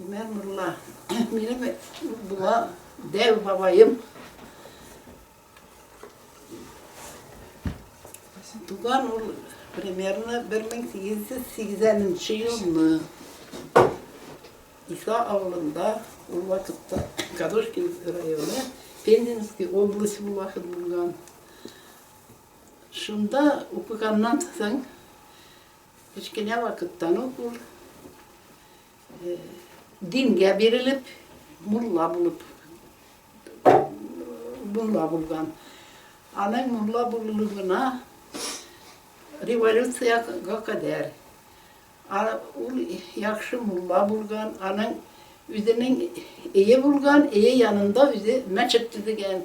Имән Мулла, минем була дәү бабаем. Туган ул примерно 1880 елны. Иса авылында ул вакытта Кадушкин районы, Пензенский область ул вакыт булган. Шунда укыганнан соң Кечкенә вакыттан ук ул дингә бирелеп, мулла булып, мулла булган. Аның мулла булуына революциягә кадәр ул яхшы мулла булган, аның үзенең ие булган, ие янында үзе мәчет төзегән.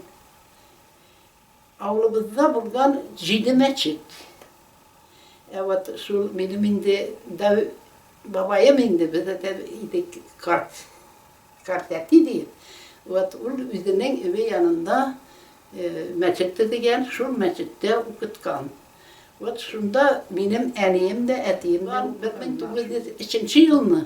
Авылыбызда булган җиде мәчет. Ә вот шул минем инде дәү бабаем инде, без әйтә идек, карт, карт әти диеп, вот ул үзенең өе янында мәчет төзегән, шул мәчеттә укыткан. Вот шунда минем әнием дә, әтием дә укыганнар. Бер мең тугыз йөз өченче елны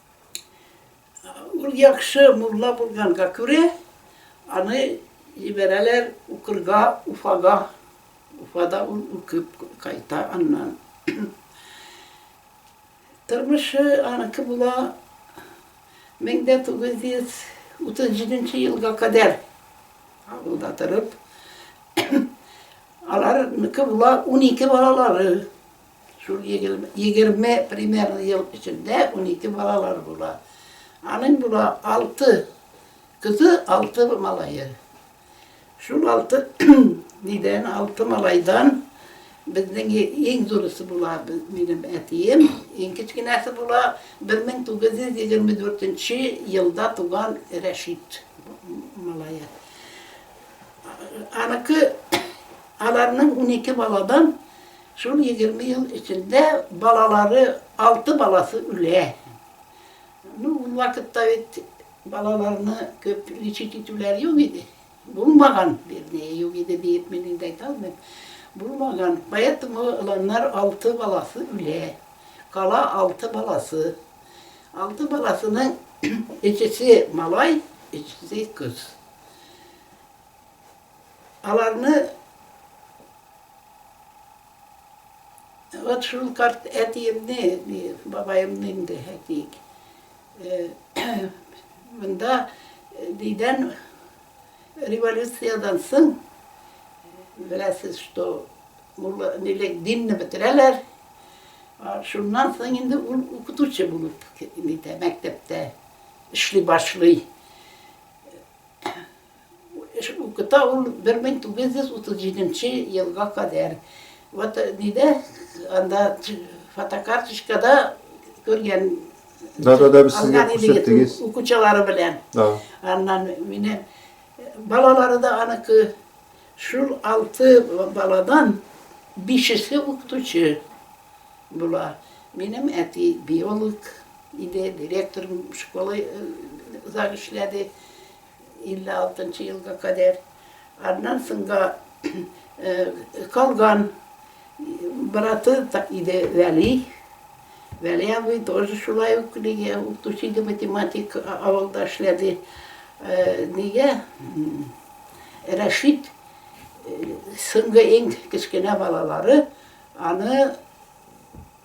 Ул яхшы мулла булганга күрә, аны җибәрәләр укырга Уфага. Уфада ул укып кайта аннан. Тормышы аныкы була 1937 елга кадәр авылда торып, аларныкы була унике балалары. Шул егерме примерно ел эчендә унике балалар була. Аның була алты кызы, алты малае. Шул алты нидән, алты малайдан Безнең иң зурысы була минем әтием, иң кечкенәсе була 1924 елда туган Рәшит малае. Аныкы аларның 12 баладан Шул егерме ел эчендә балалары, алты баласы үлә. Ну, ул вакытта бит балаларны күп лечить итүләр юк иде. Булмаган, вернее, юк иде диеп мин инде әйтә алмыйм. Булмаган. Поэтому алар алты баласы үлә. Кала алты баласы. Алты баласының икесе малай, икесе кыз. Аларны вот шул карт әтиемне, бабаемны инде әйтик. Монда дидән революциядан соң беләсез, что нилек динне бетерәләр. Шуннан соң инде ул укытучы булып мәктәптә эшли башлый. Укыта ул 1937 елга кадәр. Вот нидә анда фотокарточкада күргән Да, да, да, без сезгә күрсәттегез. Укучылары белән. Да. Аннан мине балалары да аныкы шул алты баладан бишесе укытучы була. Минем әти биолог иде, директор школы зак эшләде. 56 нчы елга кадәр, аннан соң да калган браты иде Вәли. Вәли абый тоже шулай ук нигә укытучы иде, математик авылда эшләде. Нигә Рәшит соңгы иң кечкенә балалары, аны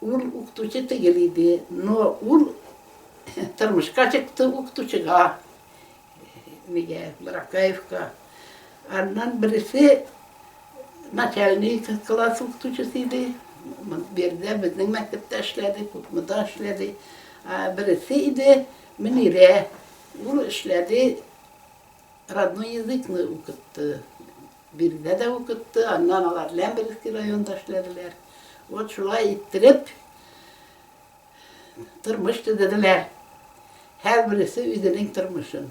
Ул укытучы тигел иде, но ул тормышка чыкты укытучыга, нигә, Баракаевка. Аннан бересе начальник класс укытучысы иде, бердә безнең мәктәптә эшләде, Кукмыда эшләде. Бересе иде Мөнирә, ул эшләде, родной языкны укытты. Биредә дә укытты, аннан алар Ләмберевский районында эшләделәр. Вот шулай иттереп тормыш төзеделәр. Һәрбересе үзенең тормышын.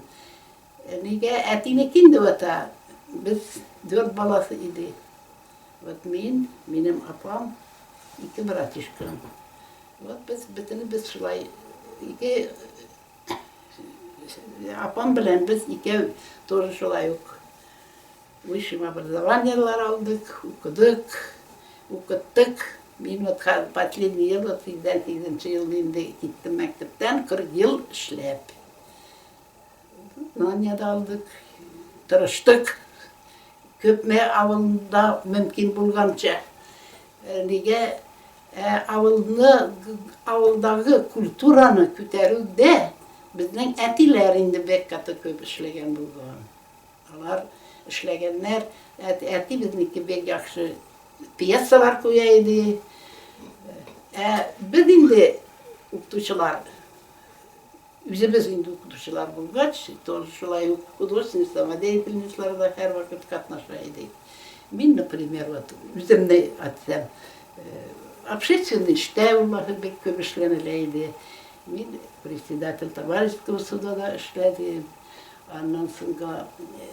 Әнигә әтинеке инде вата. Без дүрт баласы иде. Вот мин, минем апам, ике братишкам. Вот без бөтенебез шулай ике Апам белән без икәү тоже шулай ук высшим образованиелар алдык, укыдык, укыттык. Мин вот хәзер последний ел, вот 88 нче ел инде киттем мәктәптән, 40 ел эшләп. Знания да алдык, тырыштык. Күпме авылда мөмкин булганча. Нигә Ә авылны, авылдагы культураны күтәрүдә безнең әтиләр инде бек каты күп эшләгән булган. Алар эшләгәннәр, әти безнеке бик яхшы пьесалар куя иде. Ә без инде укытучылар Үзебез инде укытучылар булгач, тоже шулай ук художественный самодеятельностьларда һәрвакыт катнаша идек. Мин, например, вот үземне атсам, общественный эштә ул вакыт бик күп эшләнелә иде. Мин председатель товарищеского суда да эшләдем. Аннан соңга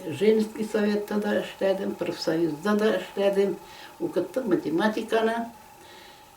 женский советта да эшләдем, профсоюзда да эшләдем. Укыттым математиканы.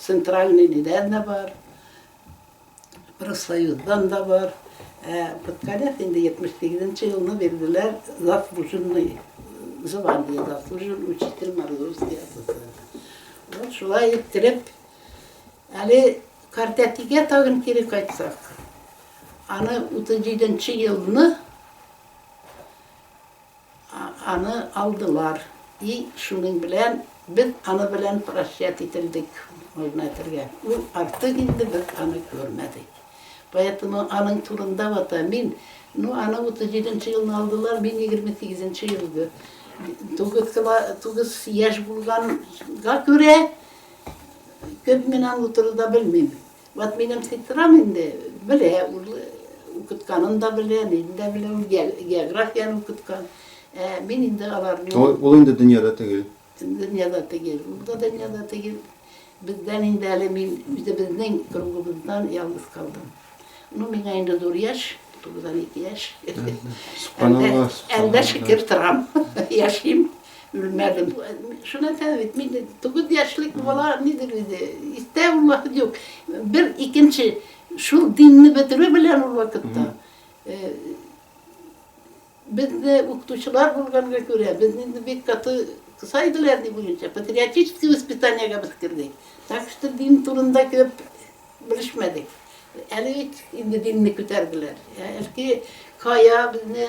Центральныйныйдан да бар, профсоюздан да бар. Ә Подкалев инде 78 нче елны бирделәр заслуженный звание, заслуженный учитель Мордовской АТС. Вот шулай иттереп, әле картәтигә тагын кире кайтсак, аны 37 нче елны Аны алдылар, и шуның белән без аны белән прощать ителдек, можно әйтергә. Ул артык инде без аны күрмәдек. Поэтому аның турында вот мин, ну аны 37 нче елны алдылар, мин 28 нче елгы, тугыз кыла, тугыз яшь булганга күрә, күп мин аны турыда белмим. Вот минем сестрам инде белә, ул укытканын да белә, ниден дә белә, ул географияне укыткан. Ә мин инде аларны... Ул инде дөньяда түгел. Дөньяда түгел, ул да дөньяда түгел. Бездән инде әле мин үзебезнең кругыбыздан ялгыз калдым. Ну, миңа инде зур яшь, 92 яшь. Әлдә шикер торам, яшим. Белмәдем. Шуны әйтәм бит, мин тугыз яшьлек бала нидер инде, истә ул вакыт юк. Бер икенче шул динне бетерү белән ул вакытта э, безне укытучылар булганга күрә, безне инде бик каты кыса иделәр ни буенча, патриотический воспитаниегә без кердек. Так что дин турында күп белешмәдек. Әле бит инде динне күтәрделәр. Әлки кая безне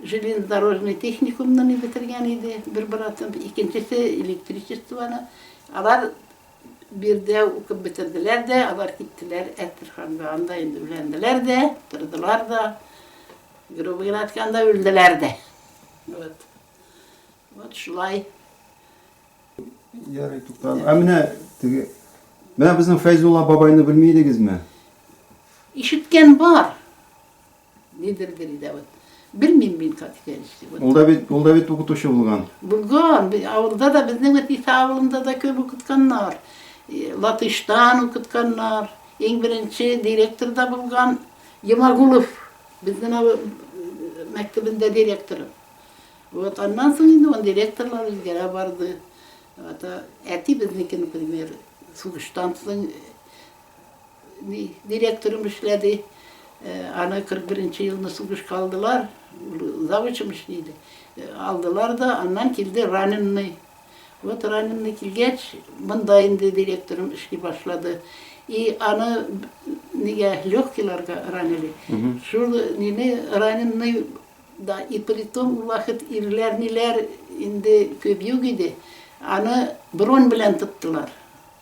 Железнодорожный техникумны мин бетергән иде, бер братым, икенчесе электричествоны. Алар биредә укып бетерделәр дә, алар киттеләр Әстерханга, анда инде өйләнделәр дә, тордылар да, грубо генә әйткәндә, үлделәр дә. Вот. Вот шулай. Ярый, туктале. Ә менә теге Менә безнең Фәйзулла бабайны белми идегезме? Ишеткән бар. Нидер биредә вот. Белмим мин как итәлешли. Ул да бит, ул да бит укытучы булган. Булган, авылда да безнең вот Иса авылында да көп укытканнар. Латыштан укытканнар. Иң беренче директор да булган Ямагулов. Безнең авыл мәктәбендә директор. Вот аннан соң инде он директорлар үзгәрә барды. Вот әти безнекен, например, сугыштан соң Ни, директорым эшләде. Аны 41 нче елны сугышка алдылар. Завучым эшли иде. Алдылар да, аннан килде раненный. Вот раненный килгәч, монда инде директорым эшли башлады. И аны нигә легкиларга ранили. Шул нине раненный да и притом ул вакыт ирләр ниләр инде күп юк иде. Аны бронь белән тоттылар.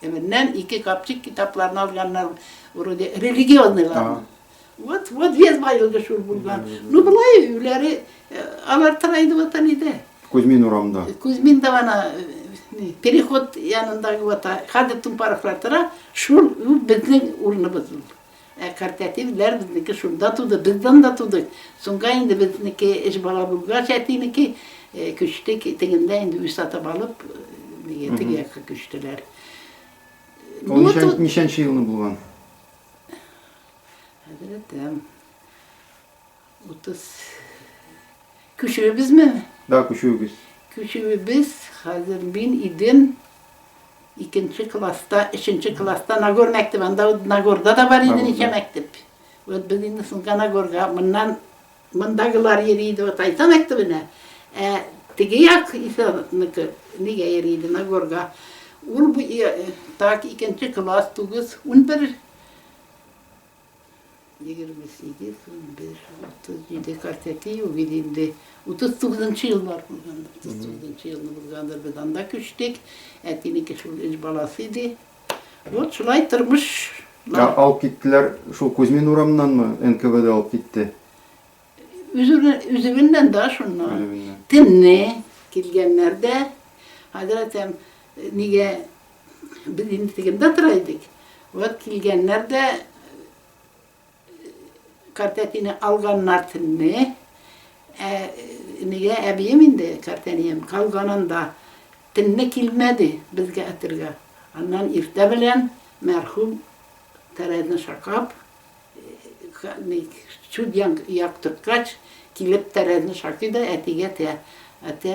Теменнән ике капчык китапларны алганнар, вроде религионныйларны. Вот, вот вес байлыгы шул булган. Ну, былай өйләре э, алар тырайды ватан иде. Кузьмин урамда. Кузьмин да ана э, переход янындагы вата, хәзер тумпарыклар тора, шул безнең урыныбыз ул. Ә картәтив ләр безнеке шунда туды, без данда тудык. Соңга инде безнеке өч бала булгач, әтинеке күчтек, тегендә инде үз сатып алып, нигә теге якка күчтеләр. Ул Ну, ничән, тут- ничәнче елны булган? Хәзрәтем. Утыз. Күчүебезме? Да, күчүебез. Күчүебез, хәзер мин идем икенче класста, өченче класста Нагор мәктәбе, анда вот Нагорда да бар иде ничә мәктәп. Вот без инде соңга Нагорга, моннан мондагылар йөри иде вот Айса мәктәбенә, ә теге як Исәнеке нигә йөри иде Нагорга. Ул так икенче класс, тугыз, унбер Егерме сигез, унбер, утыз җиде, кырк ике, юбиль инде. Утыз тугызынчы еллар булгандыр. Утыз тугызынчы елны булгандыр. Без анда күчтек. Әтинеке шул өч баласы иде. Вот шулай тормыш. Ә алып киттеләр шул Кузьмин урамыннанмы НКВД алып китте? Үзебеннән да шуннан. Төнне килгәннәр дә, хәзрәтем, нигә Без инде тегендә тора идек. Вот килгәннәр дә картәтине алганнар төнне. Ә нигә әбием инде картәнием калганында төнне килмәде безгә әтергә. Аннан иртә белән мәрхүм тәрәзне шакап, чүп яктырткач, килеп тәрәзне шакый да әтигә тә, әтә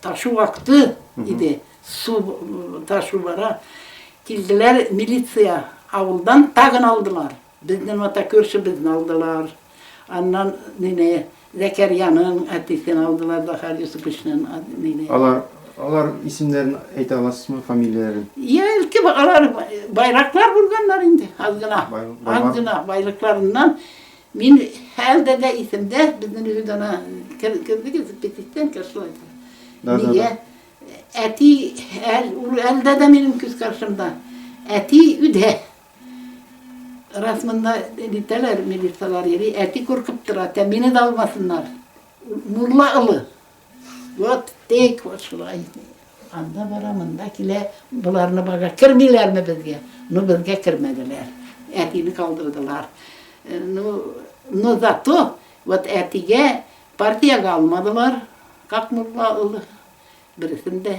Ташу вакыты иде, су ташу бара. Килделәр милиция, авылдан тагын алдылар. Безне мата күршебезне алдылар. Аннан мине Зәкәрьяның әтисен алдылар, Захар Юсуповичның мине. Алар алар исемнәрен әйтә аласызмы, фамилияләрен? Я, әлки алар байраклар булганнар инде, аз гына. Аз гына байлыкларыннан Мин хәлдә дә исемдә, безнең өйдә ана кердегез, петиттән кершла итә. Нигә? Әти, ул әлдә дә минем күз каршымда. Әти үдә. Раз монда дитәләр, милицияләр йөри, әти куркып тора, тә мине дә алмасыннар. Мулла олы. Вот тик вот шулай итә. Анда бара, монда килә, боларны бага кермиләрме безгә? Ну безгә кермәделәр. Әтине калдырдылар. Э, ну, но зато вот әтигә партиягә алмадылар. Как мулла улы берсен дә